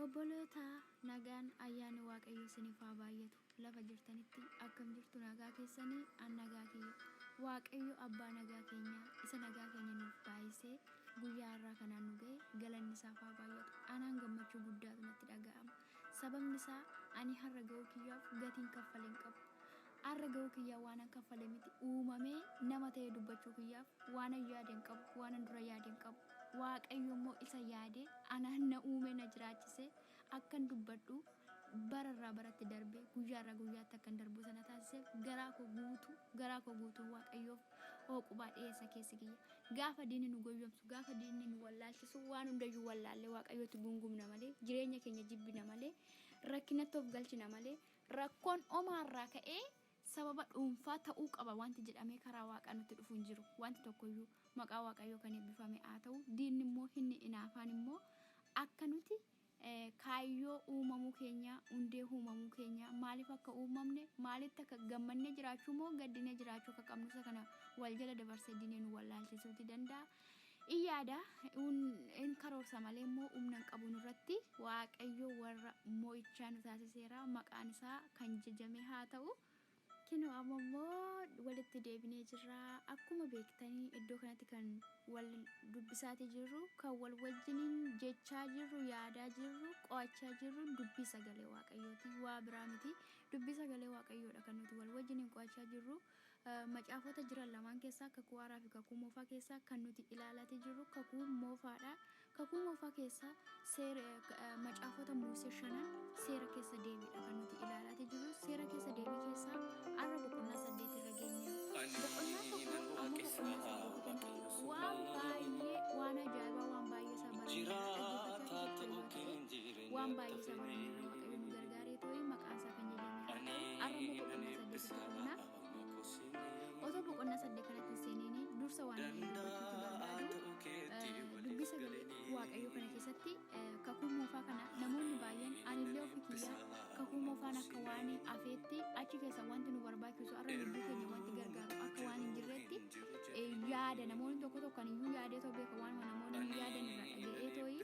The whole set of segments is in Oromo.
Obboloota nagaan ayyaanni waaqayyoo isiniif haa baay'atu lafa jirtanitti akkam jirtu nagaa keessanii an nagaa kiyya waaqayyo abbaa nagaa keenyaa isa nagaa keenya nuuf baay'isee guyyaa har'aa kanaan nu ga'e galanni isaaf haa baay'atu anaan gammachuu guddaatu natti dhaga'ama sababni isaa ani har'a ga'uu kiyyaaf gatiin kaffaleen qabu Arra ga'uu kiyyaa waanan kaffale miti. Uumamee nama ta'ee dubbachuu kiyyaaf waanan yaade hin qabu, waanan dura yaade hin qabu. Waaqayyo immoo isa yaadee anaan na uumee na jiraachisee akkan dubbadhu bara irraa baratti darbee guyyaa irraa guyyaatti akkan darbu isa na taasiseef garaa koo guutuu garaa koo guutuun Waaqayyoof hooqubaa dhiyeessa keessi kiyya. Gaafa diinni nu goyyomsu, gaafa diinni nu wallaalchisu waan hundayyuu wallaallee Waaqayyootti gungumna malee, jireenya keenya jibbina malee, rakkinatti of galchina malee, Rakkoon homaa irraa ka'ee sababa dhuunfaa ta'uu qaba wanti jedhamee karaa Waaqaa nutti dhufu hin jiru. Wanti tokko iyyuu maqaa Waaqayyoo kan eebbifame haa ta'u, diinni immoo inni inaafaan immoo akka nuti eh, kaayyoo uumamuu keenyaa, hundee uumamuu keenyaa, maaliif akka uumamne, maalitti akka gammannee jiraachuu moo gaddinee jiraachuu akka qabnu isa kana wal jala dabarsee diinee nu wallaalchisuuti danda'a. in yaada in karoorsa malee immoo humna hin qabu nurratti waaqayyo warra mo'ichaa nu taasiseera maqaan isaa kan jajamee haa ta'u kinoo amma immoo walitti deebinee jirra akkuma beektanii iddoo kanatti kan wal dubbisaatii jirru kan wal wajjiniin jechaa jirru yaadaa jirru qo'achaa jirru dubbii sagalee waaqayyooti waa biraa miti dubbii sagalee waaqayyoodha kan nuti wal wajjiniin qo'achaa jirru. Macaafota jiran lamaan keessaa, Kakuu Haaraa fi Kakuu Moofaa keessaa, kan nuti ilaalati jirru Kakuu Moofaa dha. Kakuu Moofaa keessaa seer, macaafota Muusee shanan seera keessa deebii dha kan nuti ilaalati jirru. Seera keessa deebii keessaa har'a boqonnaa saddeet irra geenye. Boqonnaa tokko amma boqonnaa saddeet kan waan baay'ee waan ajaa'ibaa waan baay'ee isaa barannee dhaggeeffachaa jiraachuu hin baatu. Waan baay'ee isaa mormina waaqayyo nu gargaaree too'ee maqaan isaa kan jajamee haa ta'u arra immoo boqonnaa saddeetitti darbina. Otoo boqonnaa saddeet kanatti hin seeniini dursa waan inni dubbachuutu barbaadu dubbii sagalee waaqayyo kana keessatti kakuu moofaa kana namoonni baay'een anillee ofii kiyyaa kakuu moofaan akka waan afeetti achi keessa wanti nu barbaachisu arra lubbuu keenya wanti gargaaru akka waan hin jirreetti yaada namoonni tokko tokko kan iyyuu yaadee too beeka waan namoonni hin yaadan irraa dhaga'ee too'ii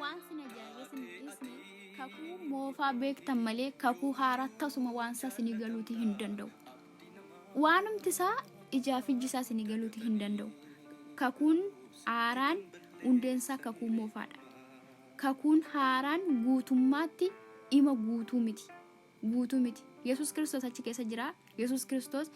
Waan sin ajaa'ibe sin dhiisne kakuu moofaa beektan malee kakuu haaraa tasuma waan isaa sinii galuuti hin danda'u. Waanumti isaa ijaa fi ijji isaa sinii galuuti hin danda'u. Kakuun haaraan hundeen isaa kakuu moofaadha. Kakuun haaraan guutummaatti ima guutuu miti. guutuu miti. Yesuus Kiristoos achi keessa jira. Yesuus Kiristoos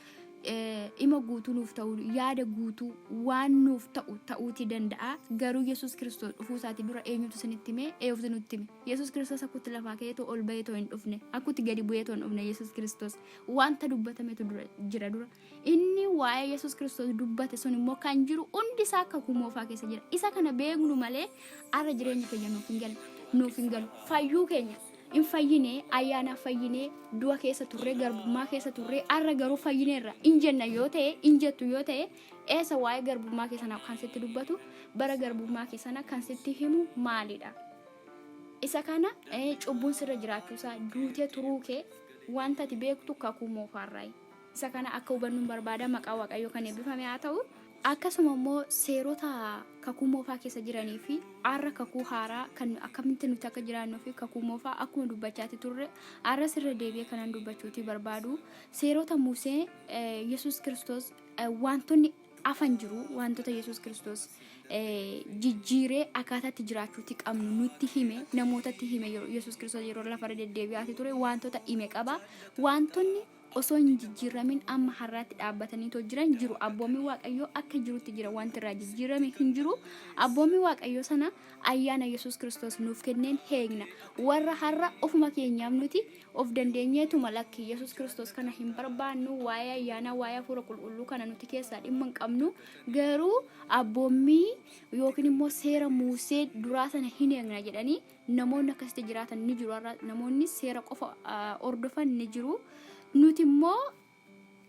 dhima guutuu nuuf ta'uu, yaada guutuu waan nuuf ta'u ta'uutii danda'a. Garuu Yesuus Kiristoos dhufuu isaati dura eenyutu isinitti hime? Eeyoftu nutti hime. Yesuus Kiristoos akkutti lafaa ka'ee too ol ba'ee too hin dhufne. Akkutti gadi bu'ee too hin dhufne Yesuus Kiristoos. Wanta dubbatametu dura jira dura. Inni waa'ee Yesus Kiristoos dubbate sun immoo kan jiru hundi isaa kakuu moofaa keessa jira. Isa kana beeknu malee arra jireenya keenya nuuf hin galu. Nuuf hin galu. Fayyuu keenya hin fayyine, ayyaanaaf fayyine, du'a keessa turre, garbummaa keessa turre, arra garuu fayyineerra. Hin jenna yoo ta'e, hin jettu yoo ta'e, eessa waa'ee garbummaa kee sana kan sitti dubbatu, bara garbummaa kee sana kan sitti himu maalidha? Isa kana eh, cubbuun sirra jiraachuusaa, duutee turuu kee, wanta ati beektu kakuu moofaarraayi. Isa kana akka hubannuun barbaada. Maqaan Waaqayyoo kan eebbifame haa ta'u. Akkasuma immoo seerota kakuu moofaa keessa jiranii fi har'a kakuu haaraa kan nu- akkamitti nuti akka jiraannuu fi kakuu moofaa akkuma dubbachaati turre har'as irra deebi'ee kanan dubbachuuti barbaadu seerota Musee eh, Yesuus Kiristoos eh, wantoonni afan jiru wantoota Yesuus Kiristoos eh, jijjiiree akkaataatti jiraachuuti qabnu nutti hime namootatti hime yeroo- Yesuus Kiristoos yeroo lafarra deddeebi'aati ture wantoota hime qaba wantoonni osoo hin jijjiirramin amma har'aatti dhaabbataniitoo jiran jiru. Abboommii Waaqayyoo akka jirutti jira. Wanti irraa jijjiirrame hin jiru. Abboommii Waaqayyoo sana ayyaana Yesuus Kiristoos nuuf kenneen heegna. Warra har'a ofuma keenyaaf nuti of dandeenyeetuma lakki Yesuus Kiristoos kana hin barbaannu waa'ee ayyaanaa waa'ee hafuura qulqulluu kana nuti keessaa dhimma hin qabnu. Garuu abboommii yookiin immoo seera Muusee duraa sana hin eegna jedhanii Namoonni akkasitti jiraatan ni jiru har'a namoonni seera qofa hordofan ni jiru nuti immoo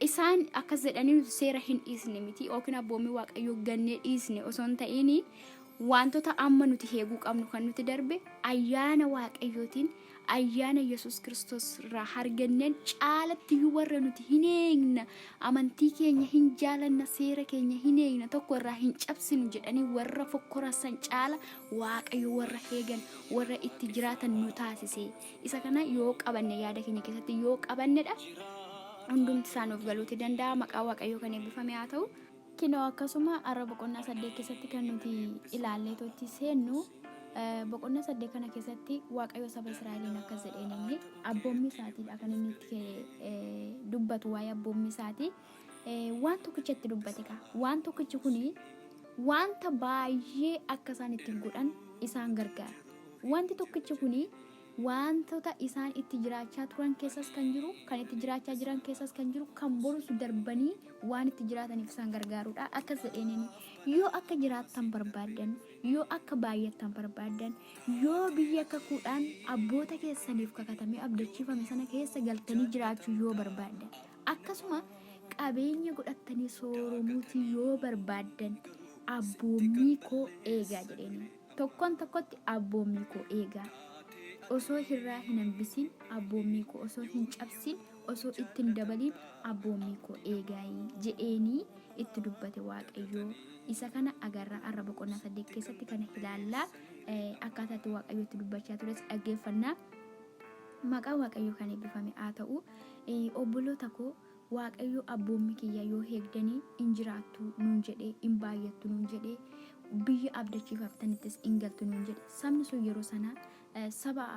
isaan akkas jedhanii nuti seera hin dhiisne miti yookiin abboommii waaqayyoo gannee dhiisne osoo hin ta'iin wantoota amma nuti heeguu qabnu kan nuti darbe ayyaana waaqayyootiin ayyaana yesus kiristoos irraa harganneen caalatti iyyuu warra nuti hin eegna amantii keenya hin jaalanna seera keenya hin eegna tokko irraa hin cabsinu jedhanii warra fokkorasan caala Waaqayyo warra eegan, warra itti jiraatan nu taasise. Isa kana yoo qabanne yaada keenya keessatti yoo qabannedha. Hundumti isaa nuuf galuuti danda'a. Maqaa Waaqayyoo kan eebbifame haa ta'u. Kinoo akkasuma har'a boqonnaa saddeet keessatti kan nuti ilaallee totti seennu eh, boqonnaa saddeet kana keessatti Waaqayyo saba Israa'eliin akkas jedheen inni abboommii isaatiidha kan inni itti eh, dubbatu waa'ee abboommii isaatii. eh, waan tokkicha itti dubbate kaa waan tokkichi kun wanta baay'ee akka isaan itti godhan isaan gargaara wanti tokkichi kun wantoota isaan itti jiraachaa turan keessas kan jiru kan itti jiraachaa jiran keessas kan jiru kan borus darbanii waan itti jiraataniif isaan gargaarudha akkas jedheenini yoo akka jiraattan barbaaddan yoo akka baay'attan barbaaddan yoo biyya kakuudhaan abboota keessaniif kakatamee abdachiifame sana keessa galtanii jiraachuu yoo barbaaddan Akkasuma qabeenya godhattanii sooromuutii yoo barbaaddan abboommii koo eegaa jedheeniin. Tokkoon tokkotti abboommii koo eegaa. Osoo hirraa hin hambisiin abboommii koo osoo hin cabsiin osoo itti hin dabaliin abboommii koo eegaayi jedheenii itti dubbate Waaqayyoo. Isa kana agarraa arra boqonnaa saddeet keessatti kana ilaallaa eh, akkaataa itti Waaqayyo itti dubbachaa tures dhaggeeffannaa. Maqaan waaqayyoo kan ebbifame haa ta'u obboloota koo waaqayyoo abboommi kiyya yoo heegdani in jiraattu nuun jedhe in baay'attu nuun jedhe biyya abdachiifamtanittis in galtu nuun jedhe sabni sun yeroo sana saba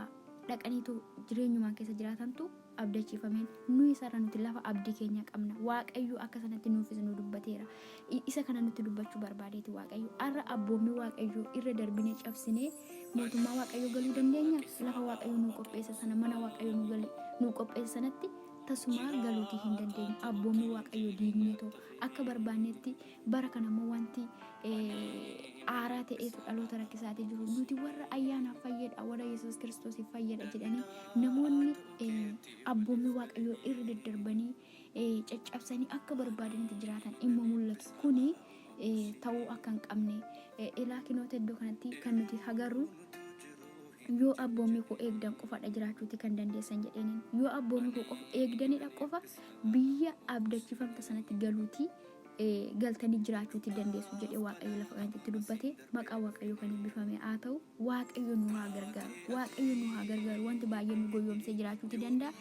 dhaqaniitu jireenyumaan keessa jiraatantu abdachiifameen nuyi sarra nuti lafa abdii keenya qabna waaqayyoo akka sanatti nuufis nu dubbateera Isa kana nutti dubbachuu barbaadeeti Waaqayyo. Har'a abboommii Waaqayyo irra darbinee cabsinee mootummaa Waaqayyo galuu dandeenya. Lafa Waaqayyo nuu qopheessa sana mana Waaqayyo nuu gali nuu qopheessa sanatti tasumaa galuutii hin dandeenyu. Abboommii Waaqayyo diignee too akka barbaannetti bara kana immoo wanti eh, aaraa ta'eetu dhaloota rakkisaatee jiru. Nuti warra ayyaanaaf fayyadha, warra Yesuus Kiristoosiif fayyadha jedhanii namoonni eh, abboommii Waaqayyoo irra daddarbanii caccabsanii akka barbaadanitti jiraatan immo mul'atu. Kuni ta'uu akka hin qabne ilaa kinoota iddoo kanatti kan nuti hagarru yoo abboommii koo eegdan qofadha jiraachuuti kan dandeessan jedheenin yoo abboommii koo qofa eegdanidha qofa biyya abdachifamta sanatti galuuti galtanii jiraachuuti dandeessu jedhee waaqayyo lafa kanatti dubbate maqaa waaqayyo kan eebbifame haa ta'u. Waaqayyo nu haa gargaaru. Waaqayyo nu haa gargaaru. Wanti baay'ee nu goyyoomsee jiraachuuti danda'a.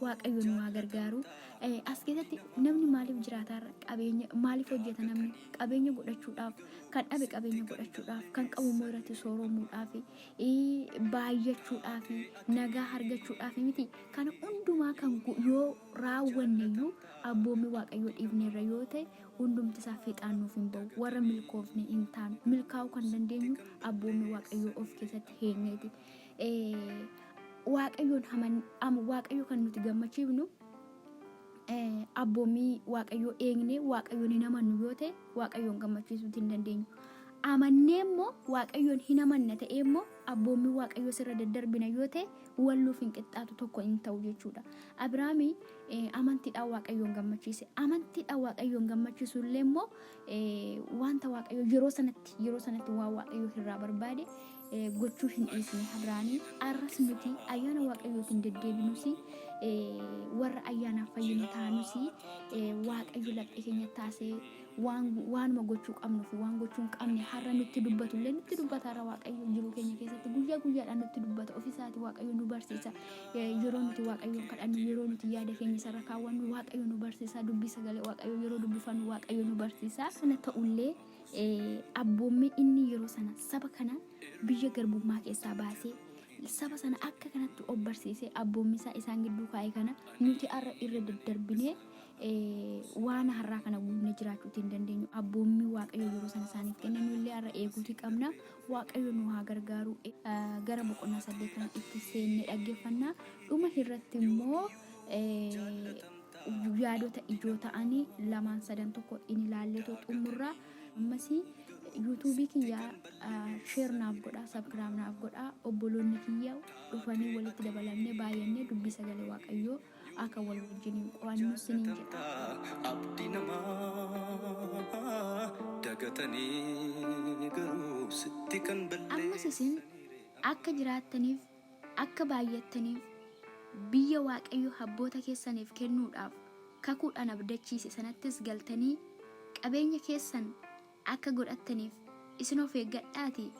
Waaqayyo nu haa gargaaru. Eh, As keessatti namni maaliif jiraataarra qabeenya maaliif hojjeta namni qabeenya godhachuudhaaf kan dhabe qabeenya godhachuudhaaf kan qabu immoo irratti sooromuudhaaf eh, baay'achuudhaaf nagaa argachuudhaaf miti kana hundumaa kan go- yoo raawwanne iyyuu abboommii waaqayyoo dhiifneerra yoo ta'e Hundumti isaa fiixaan nuuf hin ba'u. Warra milkoofne hin taanu. Milkaa'uu kan dandeenyu abboommii Waaqayyoo of keessatti heenyeeti. Eh, Waaqayyoon haman- am- Waaqayyo kan nuti gammachiifnu eh, abboommii Waaqayyoo eegnee Waaqayyoon hin amannu yoo ta'e Waaqayyoon gammachiisuu hin dandeenyu. Amannee immoo Waaqayyoon hin amanna ta'ee immoo abboommii Waaqayyoo sirra daddarbina yoo ta'e walluuf hin qixxaatu tokko hin ta'u jechuudha. Abiraamii Amantiidhaan Waaqayyoon gammachiise. Amantiidhaan Waaqayyoon gammachiisuu illee immoo wanta Waaqayyo yeroo sanatti yeroo sanatti waan Waaqayyo irraa barbaade gochuu hin dhiisne Abrahaamii arras nuti ayyaana Waaqayyootiin deddeebinuus warra ayyaanaaf fayyinu taanus Waaqayyo laphee keenya taasee waanuma gochuu qabnuu fi waan gochuu hin qabne har'a nutti dubbatu illee nutti dubbata har'a Waaqayyo jiruu keenya keessatti guyyaa guyyaadhaan nutti dubbata ofiisaati Waaqayyo nu barsiisa. Yeroo nuti Waaqayyoon kadhannu, yeroo nuti yaada keenya isarra kaawwannu Waaqayyo nu barsiisa. Dubbii sagalee Waaqayyoo yeroo dubbifannu Waaqayyo nu barsiisa. Sana ta'ullee abboommiin inni yeroo sana saba kana biyya garbummaa keessaa baasee saba sana akka kanatti of barsiisee abboommisaa isaan gidduu kaa'e kana nuti har'a irra daddarbinee waan har'aa kana guunne jiraachuuti hin dandeenyu. Abboommii Waaqayyo yeroo sana isaaniif kenne nullee har'a eeguuti qabna. Waaqayyo nu haa gargaaru. Gara boqonnaa 8 kana itti seenne dhaggeeffanna. Dhuma irratti immoo yaadota ijoo ta'anii lamaan sadan tokko in ilaalleetu xumurra. Ammas yuutuubii kiyya sheer naaf godha, sabkiraam naaf godha. Obboloonni kiyya dhufanii walitti dabalamnee baay'annee dubbii sagalee Waaqayyoo aka wal wajjinin qo'annu sinin jedha. Abdi namaa dagatanii garuu sitti kan Ammas isin balleessanii ree akka jiraattaniif, akka baay'attaniif, biyya Waaqayyo abboota keessaniif kennuudhaaf kakuudhaan abdachiise sanattis galtanii qabeenya keessan akka godhattaniif isin of eeggadhaatii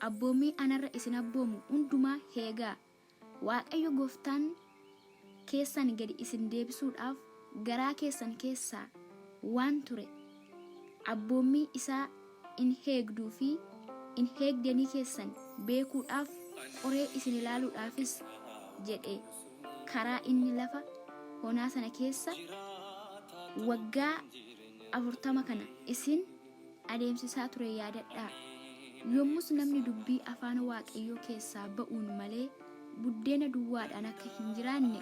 abboommii anarra isin abboomu hundumaa heegaa. Waaqayyo gooftaan keessan gadi isin deebisuudhaaf garaa keessan keessaa waan ture abboommii isaa in heegduu fi in heegdanii keessan beekuudhaaf qoree isin ilaaluudhaafis jedhe karaa inni lafa honaa sana keessa waggaa afurtama kana isin adeemsisaa ture yaadadhaa. Yommus namni dubbii afaan Waaqayyoo keessaa ba'uun malee buddeena duwwaadhaan akka hin jiraanne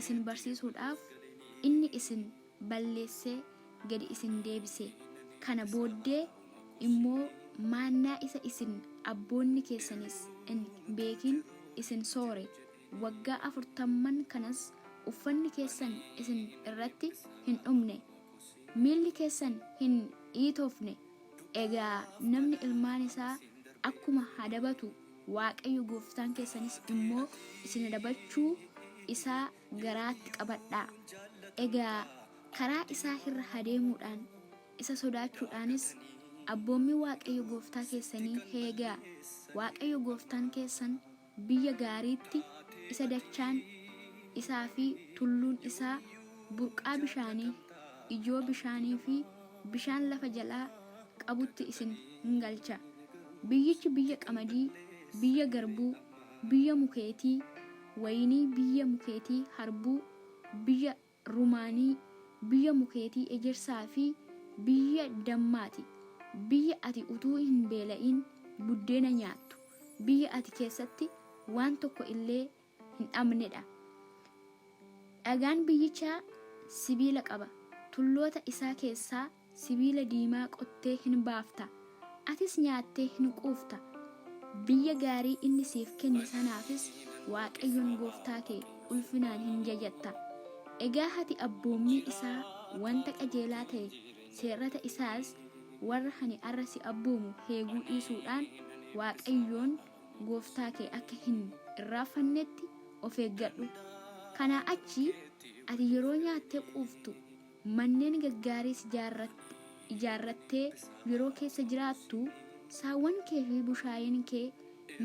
isin barsiisuudhaaf inni isin balleessee gadi isin deebise. Kana booddee immoo maannaa isa isin abboonni keessanis hin beekin isin soore. Waggaa afurtamman kanas uffanni keessan isin irratti hin dhumne, Miilli keessan hin dhiitofne. Egaa namni ilmaan isaa akkuma adabatu, Waaqayyo gooftaan keessanis immoo isin adabachuu isaa garaatti qabadhaa. Egaa karaa isaa irra adeemuudhaan, isa sodaachuudhaanis abboommii Waaqayyo gooftaa keessanii eegaa. Waaqayyo gooftaan keessan. biyya gaariitti, isa dachaan isaa fi tulluun isaa burqaa bishaanii, ijoo bishaanii fi bishaan lafa jalaa qabutti isin in galcha. Biyyichi biyya qamadii, biyya garbuu, biyya mukeetii wayinii, biyya mukeetii harbuu, biyya Rumaanii, biyya mukeetii ejersaa fi biyya dammaa ti, biyya ati utuu hin beela'in buddeena nyaattu, biyya ati keessatti waan tokko illee hin dhabne dha. Dhagaan biyyichaa sibiila qaba, tulloota isaa keessaa Sibiila diimaa qottee hin baafta, atis nyaattee hin quufta, biyya gaarii inni siif kenne sanaafis Waaqayyoon gooftaa kee ulfinaan hin jajatta. Egaa ati abboommii isaa wanta qajeelaa ta'e, seerrata isaas warra ani arra si abboomu heeguu dhiisuudhaan Waaqayyoon gooftaa kee akka hin irraaffannetti of eeggadhu. Kanaa achi ati yeroo nyaattee quuftu, Manneen gaggaariis ijaarrattee yeroo keessa jiraattu, saawwan kee fi bushaayeen kee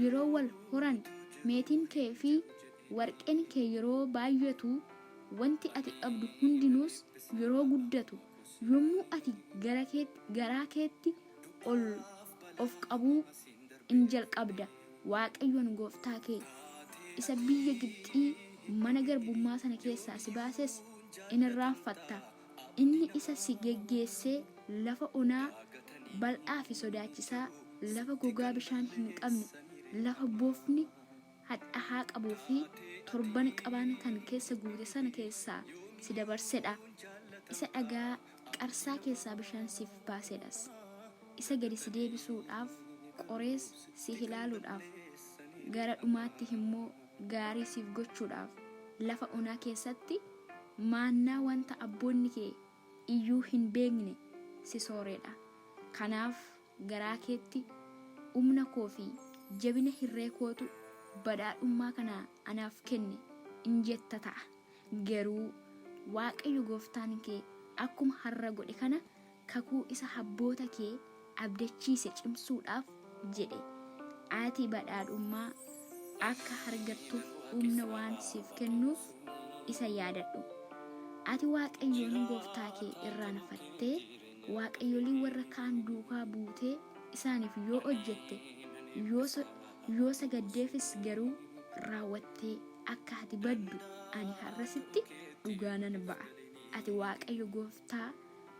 yeroo wal horan, meetiin kee fi warqeen kee yeroo baay'atu, wanti ati qabdu hundinuus yeroo guddatu, yommuu ati garaa keetti ol of qabuu in jalqabda. Waaqayyoon gooftaa kee isa biyya Gibxii mana garbummaa sana keessaa si baases in irraanfatta, inni isa si geggeessee lafa onaa bal'aa fi sodaachisaa, lafa gogaa bishaan hin qabne, lafa bofni hadhahaa qabuu fi torban qabaan kan keessa guute sana keessaa si dabarse dha, isa dhagaa Qarsaa keessaa bishaan siif baasedhas. Isa gadi si deebisuudhaaf, qorees si hilaaluudhaaf, gara dhumaatti immoo gaarii siif gochuudhaaf, lafa onaa keessatti maannaa wanta abboonni kee iyyuu hin beekne si sooreedha. Kanaaf garaa keetti, Humna koo fi jabina hirree kootu badhaadhummaa kana anaaf kenne in jetta ta'a. Garuu Waaqayyo gooftaan kee akkuma har'a godhe kana kakuu isa abboota kee abdachiise cimsuudhaaf jedhe. Ati badhaadhummaa akka argattuuf humna waan siif kennuuf isa yaadadhu. Ati Waaqayyoon gooftaa kee irraanfattee waaqayyolii warra kaan duukaa buutee isaaniif yoo hojjette, yoo Yoo sagaddeefis garuu raawwattee akka ati baddu ani har'a sitti dhugaa nan ba'a. Ati Waaqayyo gooftaa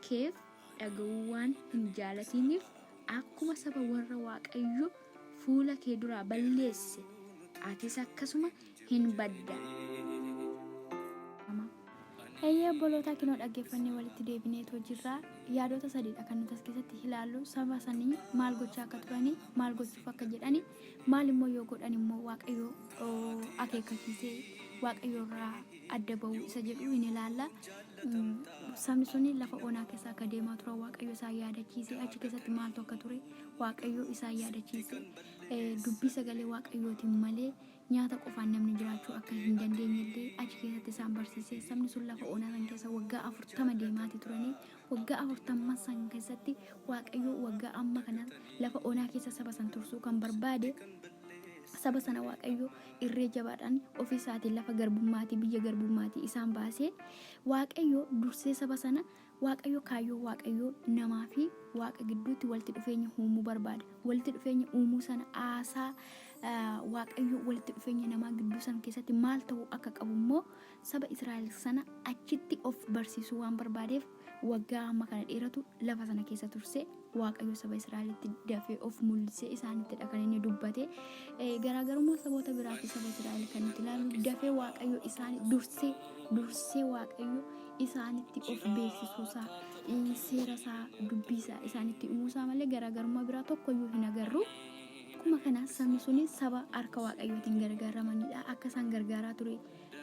keef dhaga'uu waan hin jaalatiiniif akkuma saba warra Waaqayyo fuula kee duraa balleesse atis akkasuma hin baddan. Eeyyee obbolootaa kinoo dhaggeeffannee walitti deebineetoo jirra. Yaadota sadiidha kan nuti as keessatti ilaallu saba sanii maal gochaa akka turanii maal gochuuf akka jedhani maal immoo yoo godhan immoo waaqayyo oo, akeekkachiisee waaqayyo irraa adda ba'uu isa jedhu hin ilaalla. Mm, Sabni suni lafa onaa keessa akka deemaa turan waaqayyo isaan yaadachiise achi keessatti maaltu akka ture waaqayyo isaan yaadachiise Eh, dubbii sagalee waaqayyootiin malee Nyaata qofaan namni jiraachuu akka hin dandeenye illee achi keessatti isaan barsiise. Sabni sun lafa onaa san keessa waggaa afurtama deemaati turanii waggaa afurtamman san keessatti Waaqayyoo waggaa amma kana lafa onaa keessa saba san tursuu kan barbaade saba sana Waaqayyoo irree jabaadhaan ofii isaatiin lafa garbummaatii biyya garbummaatii isaan baasee Waaqayyoo dursee saba sana Waaqayyo kaayyoo Waaqayyoo namaa fi Waaqa gidduutti walitti dhufeenya uumuu barbaada. Walitti dhufeenya uumuu sana aasaa Waaqayyo walitti dhufeenya namaa gidduu sana keessatti maal ta'uu akka qabu immoo saba Israa'el sana achitti of barsiisuu waan barbaadeef waggaa amma kana dheeratu lafa sana keessa turse. Waaqayyo saba Israa'elitti dafee of mul'isee isaanittidha kan inni dubbate. Eh, Garaagarummaa saboota biraa fi saba Israa'el kan nuti ilaallu dafee Waaqayyo isaani dursee dursee Waaqayyo isaanitti of beeksisuusaa eh, seerasaa dubbiisaa isaanitti himuusaa malee garaagarummaa biraa tokkoyyuu hin agarru. Akkuma kana sabni suni saba harka waaqayyootiin gargaaramanidha. Akka isaan gargaaraa ture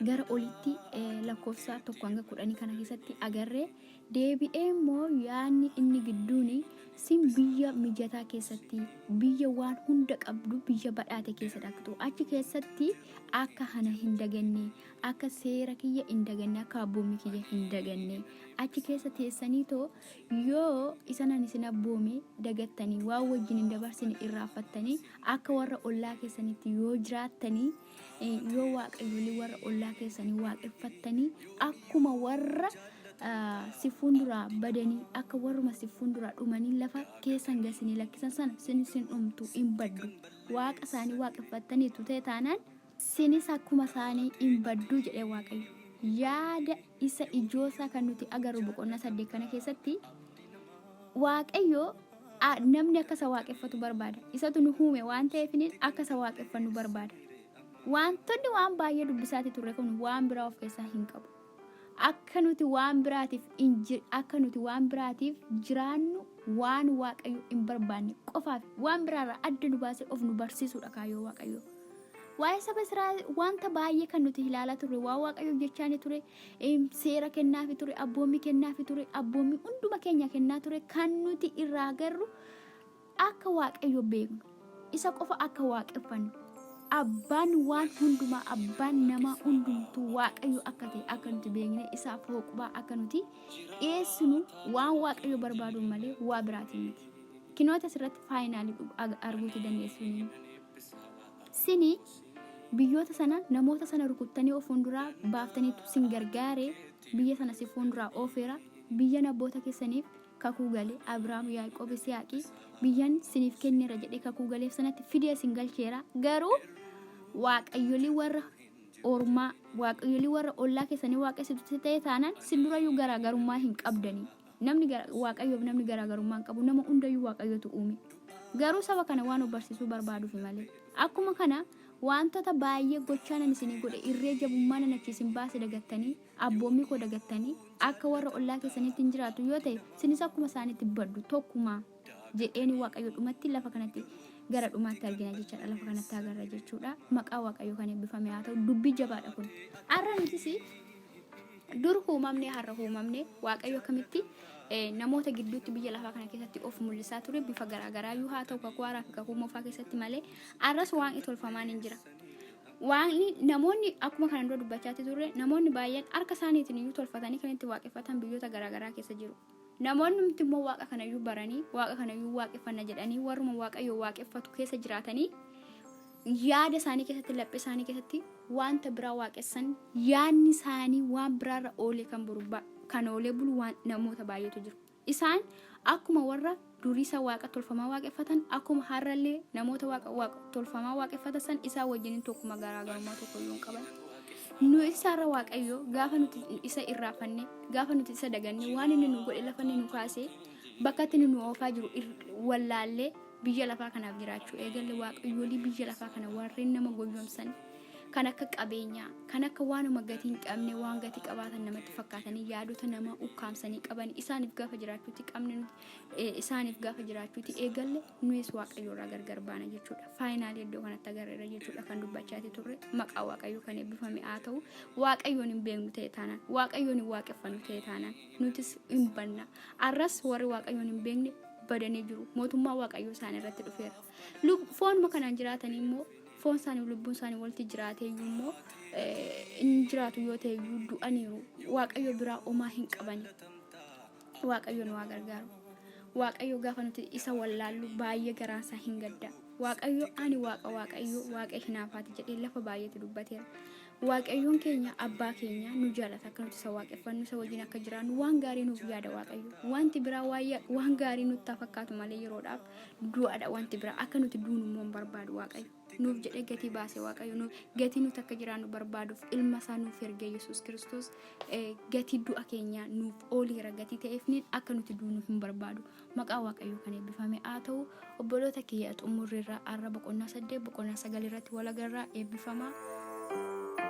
gara olitti eh, lakkoofsa tokko hanga kudhanii kana keessatti agarree Deebi'ee immoo yaadni inni gidduun sin biyya mijataa keessatti, biyya waan hunda qabdu, biyya badhaate keessa dhaqxu, achi keessatti akka ana hin daganne, akka seera kiyya hin daganne, akka abboommii kiyya hin daganne, achi keessa teessanii too yoo isan ani isin abboome dagattanii waan wajjin hin dabarsine irraanfattanii akka warra ollaa keessanitti yoo jiraattanii Eh, yoo waaqayyolee warra ollaa keessanii waaqeffattanii akkuma warra ah, si fuunduraa badanii akka warruma si fuunduraa dhumanii lafa keessan gasinii lakkisan sana sin sin dhumtu hin baddu waaqa isaanii waaqeffattaniitu ta'e taanaan sinis akkuma isaanii hin baddu jedhee waaqayyo yaada isa ijoosaa kan nuti agarru boqonnaa saddeet kana keessatti Waaqayyo a, namni akka isa waaqeffatu barbaada. Isatu nu uume waan ta'eefiniin akka isa waaqeffannu barbaada. Waantonni waan baay'ee dubbisaati turre kun waan biraa of keessaa hin qabu. Akka nuti waan biraatiif hin jir- akka nuti waan biraatiif jiraannu waan Waaqayyo hin barbaanne qofaaf waan biraarraa adda nu baasee of nu barsiisuudha kaayyoo Waaqayyo. Waa'ee saba Israa'el wanta baay'ee kan nuti ilaalaa turre waan Waaqayyo jechaani ture Em, seera kennaafi ture abboommii kennaafi ture abboommii hunduma keenya kennaa ture kan nuti irraa agarru akka waaqayyo beeknu isa qofa akka waaqeffannu abbaan waan hundumaa abbaan namaa hundumtuu waaqayyo akka ta'e akka nuti beekne isaaf hooqubaa akka nuti dhiyeessinu waan waaqayyo barbaadu malee waa biraatiin miti kinoota asirratti faayinaalii arguuti dandeessuun Isin biyyoota sana namoota sana rukuttanii of fuunduraa baaftaniitu sin gargaare, biyya sana si fuunduraa oofeera, biyyan abboota keessaniif kakuu gale, Abraam, Yaaqoob, Isiyaaqi, biyyan siniif kenneera jedhee kakuu galeef sanatti fidee sin galcheera. Garuu waaqayyolii warra ormaa, waaqayyolii warra ollaa keessanii waaqessitutti ta'e taanaan sin durayyuu garaagarummaa hin qabdanii. Namni gara, Waaqayyoof namni garaagarummaa hin qabu, nama hundayyuu Waaqayyotu uume. Garuu saba kana waan of barsiisuu barbaaduufi malee. Akkuma kana waantota baay'ee gochaa nan isinii godhe, irree jabummaa nan achii isin baase dagattanii, abboommii koo dagattanii, akka warra ollaa keessaniitti hin jiraattu yoo ta'e, isinis akkuma isaaniitti baddu. Tokkumaa. jedheeni Waaqayyo dhumatti lafa kanatti gara dhumaatti argina jechaadha. Lafa kanatti agarra jechuudha. Maqaa Waaqayyo kan eebbifame haa ta'u dubbii jabaadha kun. Har'a nutis dur uumamne har'a uumamne Waaqayyo akkamitti eh, namoota gidduutti biyya lafaa kana keessatti of mul'isaa ture bifa garaagaraa iyyuu haa ta'u kakuu haaraa fi kakuu moofaa keessatti malee har'as waaqni tolfamaan hin jira. Waaqni namoonni akkuma kana dura dubbachaatti turre namoonni baay'een harka isaaniitiin iyyuu tolfatanii kan itti waaqeffatan biyyoota garaagaraa keessa jiru. Namoonnumti immoo waaqa kanayyuu baranii waaqa kanayyuu waaqeffanna jedhanii warruma waaqayyo waaqeffatu keessa jiraatanii yaada isaanii keessatti laphee isaanii keessatti wanta biraa waaqessan yaadni isaanii waan biraarra oolee kan buru kan oolee bulu waan namoota baay'eetu jiru. Isaan akkuma warra durii san waaqa tolfamaa waaqeffatan, akkuma har'allee namoota waaqa waaqa tolfamaa waaqeffatan san isaa wajjinin tokkuma garaagarummaa tokkoyyuu hin qaban. Nu isaarra waaqayyo gaafa nuti isa irraafanne, gaafa nuti isa daganne, waan inni nu godhe lafa inni nu kaase, bakka itti inni nu oofaa jiru ir- wallaallee biyya lafaa kanaaf jiraachuu eegalle waaqayyoolii biyya lafaa kana warreen nama goyyomsan kan akka qabeenyaa, kan akka waanuma gatii hin qabne waan gatii qabaatan namatti fakkaatanii yaadota nama ukkaamsanii qaban isaaniif gaafa jiraachuutti qabne nuti eh, isaaniif gaafa jiraachuuti eegalle nuyis waaqayyo irraa gargar baana jechuudha. Faayinaalii iddoo kanatti agarreera jechuudha kan dubbachaati turre maqaa waaqayyo kan eebbifame haa ta'u waaqayyoon hin beeknu ta'e taanaan waaqayyoon hin waaqeffannu ta'e taanaan nutis hin banna. Arras warri waaqayyoon hin beekne badanii jiru mootummaa waaqayyoo isaan irratti dhufeera. Lub- Foonuma kanaan jiraatan immoo foon isaanii lubbuun isaanii walitti jiraatee iyyuu immoo eh, hin jiraatu yoo ta'e iyyuu du'aniiru waaqayyo biraa omaa hin qabani. Waaqayyo nu haa gargaaru. Waaqayyo gaafa nuti isa wallaallu baay'ee garaan isaa hin gadda. Waaqayyo ani waaqa waaqayyo waaqa hinaafaati jedhee lafa baay'eetti dubbateera. Waaqayyoon keenya abbaa keenya nu jaalata akka nuti isa waaqeffannu isa wajjin akka jiraannu waan gaarii nuuf yaada waaqayyo. Wanti biraa waayya- waan gaarii nutti haa fakkaatu malee yeroodhaaf du'aadha wanti biraa akka nuti duunu immoo hin barbaadu waaqayyo. nuuf jedhee gatii baase waaqayyo nuuf gatii nuti akka jiraannu barbaaduuf ilma isaa nuuf ergee yesus kiristoos eh, gatii du'a keenyaa nuuf ooliira gatii ta'eefniin akka nuti duunu hin barbaadu maqaa waaqayyo kan eebbifame haa ta'u obboloota kiyya xumurri irraa arra boqonnaa saddeet boqonnaa sagal irratti walagarraa eebbifamaa